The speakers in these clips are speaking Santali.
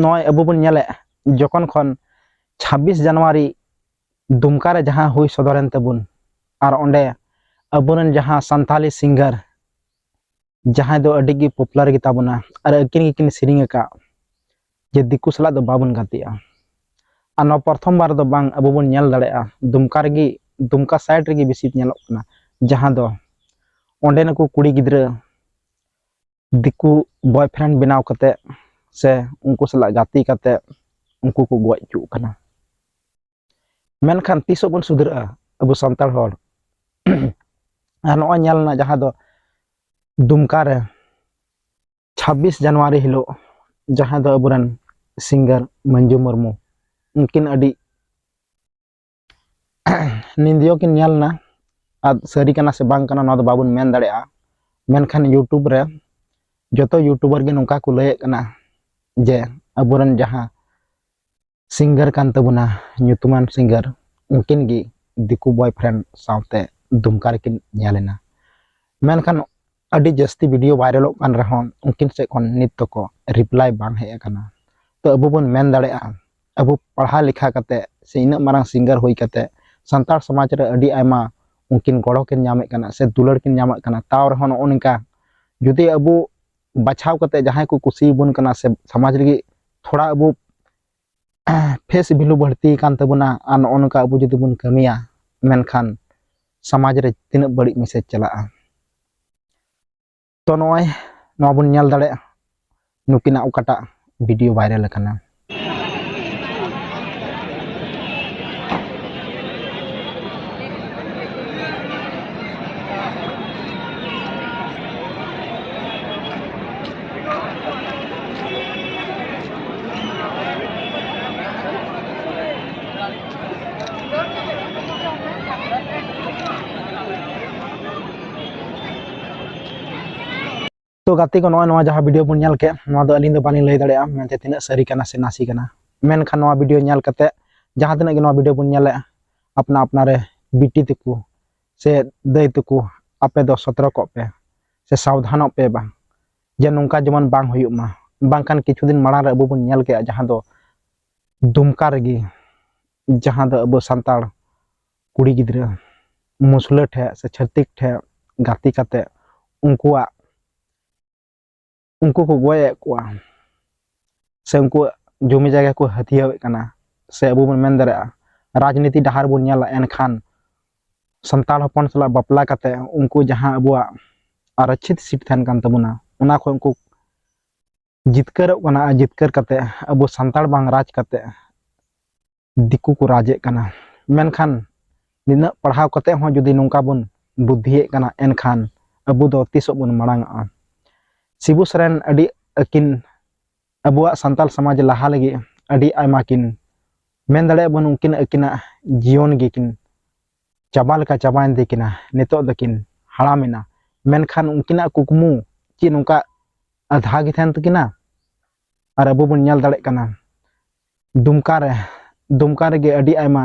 ᱱᱚᱜᱼᱚᱭ ᱟᱵᱚ ᱵᱚᱱ ᱧᱮᱞᱮᱫ ᱡᱚᱠᱷᱚᱱ ᱠᱷᱚᱱ ᱪᱷᱟᱵᱵᱤᱥ ᱡᱟᱱᱩᱣᱟᱨᱤ ᱫᱩᱢᱠᱟ ᱨᱮ ᱡᱟᱦᱟᱸ ᱦᱩᱭ ᱥᱚᱫᱚᱨᱮᱱ ᱛᱟᱵᱚᱱ ᱟᱨ ᱚᱸᱰᱮ ᱟᱵᱚᱨᱮᱱ ᱡᱟᱦᱟᱸ ᱥᱟᱱᱛᱟᱞᱤ ᱥᱤᱝᱜᱟᱨ ᱡᱟᱦᱟᱸᱭ ᱫᱚ ᱟᱹᱰᱤ ᱜᱮ ᱯᱚᱯᱩᱞᱟᱨ ᱜᱮᱛᱟ ᱵᱚᱱᱟ ᱟᱨ ᱟᱹᱠᱤᱱ ᱜᱮᱠᱤᱱ ᱥᱮᱨᱮᱧ ᱟᱠᱟᱫ ᱡᱮ ᱫᱤᱠᱩ ᱥᱟᱞᱟᱜ ᱫᱚ ᱵᱟᱵᱚᱱ ᱜᱟᱛᱮᱜᱼᱟ ᱟᱨ ᱱᱚᱣᱟ ᱯᱨᱚᱛᱷᱚᱢ ᱵᱟᱨ ᱫᱚ ᱵᱟᱝ ᱟᱵᱚ ᱵᱚᱱ ᱧᱮᱞ ᱫᱟᱲᱮᱭᱟᱜᱼᱟ ᱫᱩᱢᱠᱟ ᱨᱮᱜᱮ ᱫᱩᱢᱠᱟ ᱥᱟᱭᱤᱰ ᱨᱮᱜᱮ ᱵᱮᱥᱤ ᱧᱮᱞᱚᱜ ᱠᱟᱱᱟ ᱡᱟᱦᱟᱸ ᱫᱚ ᱚᱸᱰᱮ ᱱᱩᱠᱩ ᱠᱩᱲᱤ ᱜᱤᱫᱽᱨᱟᱹ ᱫᱤᱠᱩ ᱵᱚᱭ ᱯᱷᱨᱮᱱᱰ ᱵᱮᱱᱟᱣ ᱠᱟᱛᱮ ᱥᱮ ᱩᱱᱠᱩ ᱥᱟᱞᱟᱜ ᱜᱟᱛᱮ ᱠᱟᱛᱮ ᱩᱱᱠᱩ ᱠᱚ ᱜᱚᱡ ᱦᱚᱪᱚᱜ ᱠᱟᱱᱟ ᱢᱮᱱᱠᱷᱟᱱ ᱛᱤᱥᱚᱜ ᱵᱚᱱ ᱥᱩᱫᱷᱨᱟᱹᱜᱼᱟ ᱟᱵᱚ ᱥᱟᱱᱛᱟᱲ ᱦᱚᱲ ᱟᱨ ᱱᱚᱜᱼᱚᱭ ᱧᱮᱞ ᱮᱱᱟ ᱡᱟᱦᱟᱸ ᱫᱚ ᱫᱩᱢᱠᱟ ᱨᱮ ᱪᱷᱟᱵᱵᱤᱥ ᱡᱟᱱᱩᱣᱟᱨᱤ ᱦᱤᱞᱳᱜ ᱡᱟᱦᱟᱸ ᱫᱚ ᱟᱵᱚᱨᱮᱱ ᱥᱤᱝᱜᱟᱨ ᱢᱟᱹᱱᱡᱩ ᱢᱩᱨᱢᱩ ᱩᱱᱠᱤᱱ ᱟᱹᱰᱤ ᱱᱤᱫᱤᱭᱳ ᱠᱤᱱ ᱧᱮᱞ ᱮᱱᱟ ᱟᱨ ᱥᱟᱹᱨᱤ ᱠᱟᱱᱟ ᱥᱮ ᱵᱟᱝ ᱠᱟᱱᱟ ᱱᱚᱣᱟ ᱫᱚ ᱵᱟᱵᱚᱱ ᱢᱮᱱ ᱫᱟᱲᱮᱭᱟᱜᱼᱟ ᱢᱮᱱᱠᱷᱟᱱ ᱤᱭᱩᱴᱩᱵᱽ ᱨᱮ ᱡᱚᱛᱚ ᱤᱭᱩᱴᱩᱵᱟᱨ ᱜᱮ ᱱᱚᱝᱠᱟ ᱠᱚ ᱞᱟᱹᱭᱮᱫ ᱠᱟᱱᱟ ᱡᱮ ᱟᱵᱚᱨᱮᱱ ᱡᱟᱦᱟᱸ ᱥᱤᱝᱜᱟᱨ ᱠᱟᱱ ᱛᱟᱵᱚᱱᱟ ᱧᱩᱛᱩᱢᱟᱱ ᱥᱤᱝᱜᱟᱨ ᱩᱱᱠᱤᱱ ᱜᱮ ᱫᱤᱠᱩ ᱵᱚᱭᱯᱷᱨᱮᱱᱰ ᱥᱟᱶᱛᱮ ᱫᱩᱢᱠᱟ ᱨᱮᱠᱤᱱ ᱧᱮᱞ ᱮᱱᱟ ᱢᱮᱱᱠᱷᱟᱱ ᱟᱹᱰᱤ ᱡᱟᱹᱥᱛᱤ ᱵᱷᱤᱰᱤᱭᱳ ᱵᱷᱟᱭᱨᱟᱞᱚᱜ ᱠᱟᱱ ᱨᱮᱦᱚᱸ ᱩᱱᱠᱤᱱ ᱥᱮᱫ ᱠᱷᱚᱱ ᱱᱤᱛ ᱛᱚᱠᱚ ᱨᱤᱯᱞᱟᱭ ᱵᱟᱝ ᱦᱮᱡ ᱟᱠᱟᱱᱟ ᱛᱚ ᱟᱵᱚ ᱵᱚᱱ ᱢᱮᱱ ᱫᱟᱲᱮᱭᱟᱜᱼᱟ ᱟᱵᱚ ᱯᱟᱲᱦᱟᱣ ᱞᱮᱠᱷᱟ ᱠᱟᱛᱮ ᱥᱮ ᱤᱱᱟᱹᱜ ᱢᱟᱨᱟᱝ ᱥᱤᱝᱜᱟᱨ ᱦᱩᱭ ᱠᱟᱛᱮ ᱥᱟᱱᱛᱟᱲ ᱥᱚᱢᱟᱡᱽ ᱨᱮ ᱟᱹᱰᱤ ᱟᱭᱢᱟ ᱩᱱᱠᱤᱱ ᱜᱚᱲᱚ ᱠᱤᱱ ᱧᱟᱢᱮᱫ ᱠᱟᱱᱟ ᱥᱮ ᱫᱩᱞᱟᱹᱲ ᱠᱤᱱ ᱧᱟᱢᱮᱫ ᱠᱟᱱᱟ ᱛᱟᱣ ᱨᱮᱦᱚᱸ ᱱᱚᱜᱼᱚ ᱱᱚᱝᱠᱟ ᱡᱩᱫᱤ ᱟᱵᱚ ᱵᱟᱪᱷᱟᱣ ᱠᱟᱛᱮ ᱡᱟᱦᱟᱸᱭ ᱠᱚ ᱠᱩᱥᱤᱭᱟᱵᱚᱱ ᱠᱟᱱᱟ ᱥᱮ ᱥᱚᱢᱟᱡᱽ ᱞᱟᱹᱜᱤᱫ ᱛᱷᱚᱲᱟ ᱟᱵᱚ ᱯᱷᱮᱥ ᱵᱷᱮᱞᱩ ᱵᱟᱹᱲᱛᱤ ᱟᱠᱟᱱ ᱛᱟᱵᱚᱱᱟ ᱟᱨ ᱱᱚᱜᱼᱚ ᱱᱚᱝᱠᱟ ᱟᱵᱚ ᱡᱩᱫᱤ ᱵᱚᱱ ᱠᱟᱹᱢᱤᱭᱟ ᱢᱮᱱᱠᱷᱟᱱ ᱥᱚᱢᱟᱡᱽ ᱨᱮ ᱛᱤᱱᱟᱹᱜ ᱵᱟᱹᱲᱤᱡ ᱢᱮᱥᱮᱡᱽ ᱪᱟᱞᱟᱜᱼᱟ ᱛᱚ ᱱᱚᱜᱼᱚᱭ ᱱᱚᱣᱟ ᱵᱚᱱ ᱧᱮᱞ ᱫᱟᱲᱮᱭᱟᱜᱼᱟ ᱱᱩᱠᱤᱱᱟᱜ ᱚᱠᱟᱴᱟᱜ ᱵᱷᱤᱰᱤᱭᱳ ᱵᱷᱟᱭᱨᱟᱞ ᱟᱠᱟᱱᱟ ᱛᱚ ᱜᱟᱛᱮ ᱠᱚ ᱱᱚᱜᱼᱚᱭ ᱱᱚᱣᱟ ᱡᱟᱦᱟᱸ ᱵᱷᱤᱰᱤᱭᱳ ᱵᱚᱱ ᱧᱮᱞ ᱠᱮᱫ ᱱᱚᱣᱟ ᱫᱚ ᱟᱹᱞᱤᱧ ᱫᱚ ᱵᱟᱹᱞᱤᱧ ᱞᱟᱹᱭ ᱫᱟᱲᱮᱭᱟᱜᱼᱟ ᱢᱮᱱᱛᱮ ᱛᱤᱱᱟᱹᱜ ᱥᱟᱹᱨᱤ ᱠᱟᱱᱟ ᱥᱮ ᱱᱟᱥᱮ ᱠᱟᱱᱟ ᱢᱮᱱᱠᱷᱟᱱ ᱱᱚᱣᱟ ᱵᱷᱤᱰᱤᱭᱳ ᱧᱮᱞ ᱠᱟᱛᱮ ᱡᱟᱦᱟᱸ ᱛᱤᱱᱟᱹᱜ ᱜᱮ ᱱᱚᱣᱟ ᱵᱷᱤᱰᱤᱭᱳ ᱵᱚᱱ ᱧᱮᱞᱮᱫᱼᱟ ᱟᱯᱱᱟ ᱟᱯᱱᱟᱨᱮ ᱵᱤᱴᱤ ᱛᱮᱠᱚ ᱥᱮ ᱫᱟᱹᱭ ᱛᱟᱠᱚ ᱟᱯᱮ ᱫᱚ ᱥᱚᱛᱨᱚ ᱠᱚᱜ ᱯᱮ ᱥᱮ ᱥᱟᱵᱫᱷᱟᱱᱚᱜ ᱯᱮ ᱵᱟᱝ ᱡᱮ ᱱᱚᱝᱠᱟ ᱡᱮᱢᱚᱱ ᱵᱟᱝ ᱦᱩᱭᱩᱜ ᱢᱟ ᱵᱟᱝᱠᱷᱟᱱ ᱠᱤᱪᱷᱩ ᱫᱤᱱ ᱢᱟᱲᱟᱝ ᱨᱮ ᱟᱵᱚ ᱵᱚᱱ ᱧᱮᱞ ᱠᱮᱜᱼᱟ ᱡᱟᱦᱟᱸ ᱫᱚ ᱫᱩᱢᱠᱟ ᱨᱮᱜᱮ ᱡᱟᱦᱟᱸ ᱫᱚ ᱟᱵᱚ ᱥᱟᱱᱛᱟᱲ ᱠᱩᱲᱤ ᱜᱤᱫᱽᱨᱟᱹ ᱢᱩᱥᱞᱟᱹ ᱴᱷᱮᱡ ᱥᱮ ᱪᱷᱟᱹᱛᱤᱠ ᱴᱷᱮᱡ ᱜᱟᱛᱮ ᱠᱟᱛᱮ ᱩᱱᱠᱩᱣᱟᱜ ᱩᱱᱠᱩ ᱠᱚ ᱜᱚᱡᱮᱫ ᱠᱚᱣᱟ ᱥᱮ ᱩᱱᱠᱩᱣᱟᱜ ᱡᱚᱢᱤ ᱡᱟᱭᱜᱟ ᱠᱚ ᱦᱟᱹᱛᱭᱟᱹᱣᱮᱫ ᱠᱟᱱᱟ ᱥᱮ ᱟᱵᱚ ᱵᱚᱱ ᱢᱮᱱ ᱫᱟᱲᱮᱭᱟᱜᱼᱟ ᱨᱟᱡᱽᱱᱤᱛᱤ ᱰᱟᱦᱟᱨ ᱵᱚᱱ ᱧᱮᱞᱟ ᱮᱱᱠᱷᱟᱱ ᱥᱟᱱᱛᱟᱲ ᱦᱚᱯᱚᱱ ᱥᱟᱞᱟᱜ ᱵᱟᱯᱞᱟ ᱠᱟᱛᱮ ᱩᱱᱠᱩ ᱡᱟᱦᱟᱸ ᱟᱵᱚᱣᱟᱜ ᱟᱨᱚᱪᱷᱤᱛ ᱥᱤᱴ ᱛᱟᱦᱮᱱ ᱠᱟᱱ ᱛᱟᱵᱚᱱᱟ ᱚᱱᱟ ᱠᱷᱚᱱ ᱩᱱᱠᱩ ᱡᱤᱛᱠᱟᱹᱨᱚᱜ ᱠᱟᱱᱟ ᱟᱨ ᱡᱤᱛᱠᱟᱹᱨ ᱠᱟᱛᱮ ᱟᱵᱚ ᱥᱟᱱᱛᱟᱲ ᱵᱟᱝ ᱨᱟᱡᱽ ᱠᱟᱛᱮ ᱫᱤᱠᱩ ᱠᱚ ᱨᱟᱡᱮᱫ ᱠᱟᱱᱟ ᱢᱮᱱᱠᱷᱟᱱ ᱱᱤᱱᱟᱹᱜ ᱯᱟᱲᱦᱟᱣ ᱠᱟᱛᱮ ᱦᱚᱸ ᱡᱩᱫᱤ ᱱᱚᱝᱠᱟ ᱵᱚᱱ ᱵᱩᱫᱽᱫᱷᱤᱭᱮᱫ ᱠᱟᱱᱟ ᱮᱱᱠᱷᱟᱱ ᱟᱵᱚ ᱫᱚ ᱛᱤᱥᱚᱜ ᱵᱚᱱ ᱢᱟᱲᱟᱝᱚᱜᱼᱟ ᱥᱤᱵᱩ ᱥᱚᱨᱮᱱ ᱟᱹᱰᱤ ᱟᱹᱠᱤᱱ ᱟᱵᱚᱣᱟᱜ ᱥᱟᱱᱛᱟᱲ ᱥᱚᱢᱟᱡᱽ ᱞᱟᱦᱟ ᱞᱟᱹᱜᱤᱫ ᱟᱹᱰᱤ ᱟᱭᱢᱟ ᱠᱤᱱ ᱢᱮᱱ ᱫᱟᱲᱮᱭᱟᱜ ᱵᱚᱱ ᱩᱱᱠᱤᱱ ᱟᱹᱠᱤᱱᱟᱜ ᱡᱤᱭᱚᱱ ᱜᱮᱠᱤᱱ ᱪᱟᱵᱟ ᱞᱮᱠᱟ ᱪᱟᱵᱟᱭᱮᱱ ᱛᱟᱹᱠᱤᱱᱟ ᱱᱤᱛᱚᱜ ᱫᱚᱠᱤᱱ ᱦᱟᱲᱟᱢᱮᱱᱟ ᱢᱮᱱᱠᱷᱟᱱ ᱩᱱᱠᱤᱱᱟᱜ ᱠᱩᱠᱢᱩ ᱪᱮᱫ ᱱᱚᱝᱠᱟ ᱟᱫᱷᱟ ᱜᱮ ᱛᱟᱦᱮᱱ ᱛᱟᱹᱠᱤᱱᱟ ᱟᱨ ᱟᱵᱚ ᱵᱚᱱ ᱧᱮᱞ ᱫᱟᱲᱮᱭᱟᱜ ᱠᱟᱱᱟ ᱫᱩᱢᱠᱟ ᱨᱮ ᱫᱩᱢᱠᱟ ᱨᱮᱜᱮ ᱟᱹᱰᱤ ᱟᱭᱢᱟ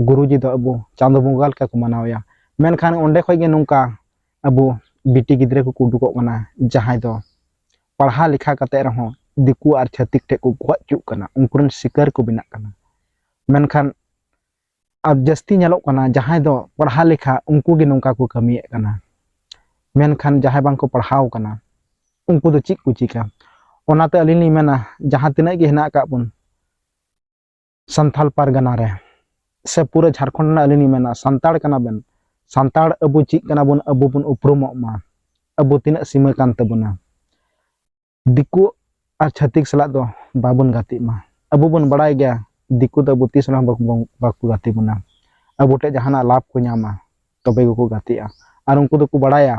ᱜᱩᱨᱩᱡᱤ ᱫᱚ ᱟᱵᱚ ᱪᱟᱸᱫᱚ ᱵᱚᱸᱜᱟ ᱞᱮᱠᱟ ᱠᱚ ᱢᱟᱱᱟᱣᱮᱭᱟ ᱢᱮᱱᱠᱷᱟᱱ ᱚᱸᱰᱮ ᱠᱷᱚᱱ ᱜᱮ ᱱᱚᱝᱠᱟ ᱟᱵᱚ ᱵᱤᱴᱤ ᱜᱤᱫᱽᱨᱟᱹ ᱠᱚᱠᱚ ᱩᱰᱩᱠᱚᱜ ᱠᱟᱱᱟ ᱡᱟᱦᱟᱸᱭ ᱫᱚ ᱯᱟᱲᱦᱟᱣ ᱞᱮᱠᱷᱟ ᱠᱟᱛᱮ ᱨᱮᱦᱚᱸ ᱫᱤᱠᱩ ᱟᱨ ᱪᱷᱟᱹᱛᱤᱠ ᱴᱷᱮᱱ ᱠᱚ ᱜᱚᱡ ᱦᱚᱪᱚᱜ ᱠᱟᱱᱟ ᱩᱱᱠᱩ ᱨᱮᱱ ᱥᱤᱠᱟᱹᱨ ᱠᱚ ᱵᱮᱱᱟᱜ ᱠᱟᱱᱟ ᱢᱮᱱᱠᱷᱟᱱ ᱟᱨ ᱡᱟᱹᱥᱛᱤ ᱧᱮᱞᱚᱜ ᱠᱟᱱᱟ ᱡᱟᱦᱟᱸᱭ ᱫᱚ ᱯᱟᱲᱦᱟᱣ ᱞᱮᱠᱷᱟ ᱩᱱᱠᱩ ᱜᱮ ᱱᱚᱝᱠᱟ ᱠᱚ ᱠᱟᱹᱢᱤᱭᱮᱫ ᱠᱟᱱᱟ ᱢᱮᱱᱠᱷᱟᱱ ᱡᱟᱦᱟᱸᱭ ᱵᱟᱝ ᱠᱚ ᱯᱟᱲᱦᱟᱣ ᱠᱟᱱᱟ ᱩᱱᱠᱩ ᱫᱚ ᱪᱮᱫ ᱠᱚ ᱪᱤᱠᱟ ᱚᱱᱟᱛᱮ ᱟᱹᱞᱤᱧ ᱞᱤᱧ ᱢᱮᱱᱟ ᱡᱟᱦᱟᱸ ᱛᱤᱱᱟᱹᱜ ᱜᱮ ᱦᱮᱱᱟᱜ ᱟᱠᱟᱫ ᱵᱚᱱ ᱥᱟᱱᱛᱟᱲ ᱯᱟᱨᱜᱟᱱᱟ ᱨᱮ ᱥᱮ ᱯᱩᱨᱟᱹ ᱡᱷᱟᱲᱠᱷᱚᱸᱰ ᱨᱮᱱᱟᱜ ᱟᱹᱞᱤᱧ ᱞᱤᱧ ᱢᱮᱱᱟ ᱥᱟᱱᱛᱟᱲ ᱠᱟᱱᱟ ᱵᱮᱱ ᱥᱟᱱᱛᱟᱲ ᱟᱵᱚ ᱪᱮᱫ ᱠᱟᱱᱟ ᱵᱚᱱ ᱟᱵᱚ ᱵᱚᱱ ᱩᱯᱨᱩᱢᱚᱜ ᱢᱟ ᱟᱵᱚ ᱛᱤᱱᱟᱹᱜ ᱥᱤᱢᱟᱹ ᱠᱟᱱ ᱛᱟᱵᱚᱱᱟ ᱫᱤᱠᱩ ᱟᱨ ᱪᱷᱟᱹᱛᱤᱠ ᱥᱟᱞᱟᱜ ᱫᱚ ᱵᱟᱵᱚᱱ ᱜᱟᱛᱮᱜ ᱢᱟ ᱟᱵᱚ ᱵᱚᱱ ᱵᱟᱲᱟᱭ ᱜᱮᱭᱟ ᱫᱤᱠᱩ ᱫᱚ ᱟᱵᱚ ᱛᱤᱥ ᱨᱮᱦᱚᱸ ᱵᱟᱠᱚ ᱜᱟᱛᱮ ᱵᱚᱱᱟ ᱟᱵᱚ ᱴᱷᱮᱱ ᱡᱟᱦᱟᱱᱟᱜ ᱞᱟᱵᱷ ᱠᱚ ᱧᱟᱢᱟ ᱛᱚᱵᱮ ᱜᱮᱠᱚ ᱜᱟᱛᱮᱜᱼᱟ ᱟᱨ ᱩᱱᱠᱩ ᱫᱚᱠᱚ ᱵᱟᱲᱟᱭᱟ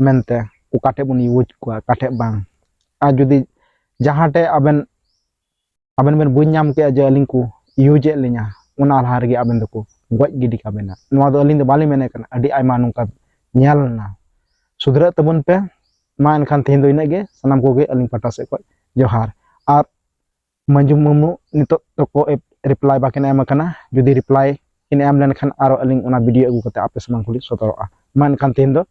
ᱢᱮᱱᱛᱮ ᱚᱠᱟ ᱴᱷᱮᱱ ᱵᱚᱱ ᱤᱭᱩᱡᱽ ᱠᱚᱣᱟ ᱚᱠᱟ ᱴᱷᱮᱱ ᱵᱟᱝ ᱟᱨ ᱡᱩᱫᱤ ᱡᱟᱦᱟᱸ ᱴᱷᱮᱱ ᱟᱵᱮᱱ ᱟᱵᱮᱱ ᱵᱮᱱ ᱵᱩᱡᱽ ᱧᱟᱢ ᱠᱮᱜᱼᱟ ᱡᱮ ᱟᱹᱞᱤᱧ ᱠᱚ ᱤᱭᱩᱡᱮᱫ ᱞᱤᱧᱟ ᱚᱱᱟ ᱞᱟᱦᱟ ᱨᱮᱜᱮ ᱟᱵᱮᱱ ᱫᱚᱠᱚ ᱜᱚᱡ ᱜᱤᱰᱤ ᱠᱟᱵᱮᱱᱟ ᱱᱚᱣᱟ ᱫᱚ ᱟᱹᱞᱤᱧ ᱫᱚ ᱵᱟᱹᱞᱤᱧ ᱢᱮᱱᱮᱫ ᱠᱟᱱᱟ ᱟᱹᱰᱤ ᱟᱭᱢᱟ ᱱᱚᱝᱠᱟ ᱧᱮᱞ ᱞᱮᱱᱟ ᱥᱩᱫᱷᱨᱟᱹᱜ ᱛᱟᱵᱚᱱ ᱯᱮ ᱢᱟ ᱮᱱᱠᱷᱟᱱ ᱛᱮᱦᱮᱧ ᱫᱚ ᱤᱱᱟᱹᱜ ᱜᱮ ᱥᱟᱱᱟᱢ ᱠᱚᱜᱮ ᱟᱹᱞᱤᱧ ᱯᱟᱦᱴᱟ ᱥᱮᱫ ᱠᱷᱚᱱ ᱡᱚᱦᱟᱨ ᱟᱨ ᱢᱟᱹᱡᱷᱤ ᱢᱩᱨᱢᱩ ᱱᱤᱛᱚᱜ ᱫᱚᱠᱚ ᱨᱤᱯᱞᱟᱭ ᱵᱟᱠᱤᱱ ᱮᱢ ᱟᱠᱟᱱᱟ ᱡᱩᱫᱤ ᱨᱤᱯᱞᱟᱭ ᱠᱤᱱ ᱮᱢ ᱞᱮᱱᱠᱷᱟᱱ ᱟᱨᱚ ᱟᱹᱞᱤᱧ ᱚᱱᱟ ᱵᱷᱤᱰᱤᱭᱳ ᱟᱹᱜᱩ ᱠᱟᱛᱮ ᱟᱯᱮ ᱥᱟᱢᱟᱝ ᱠᱚᱞᱤᱧ ᱥᱚᱫᱚᱨᱚᱜᱼᱟ ᱢᱟ ᱮᱱᱠᱷᱟᱱ ᱛᱮᱦᱮᱧ ᱫᱚ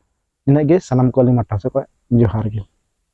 ᱤᱱᱟᱹᱜ ᱜᱮ ᱥᱟᱱᱟᱢ ᱠᱚ ᱟᱹᱞᱤᱧ ᱯᱟᱦᱴᱟ ᱥᱮᱫ ᱠᱷᱚᱱ ᱡᱚᱦᱟᱨ ᱜᱮ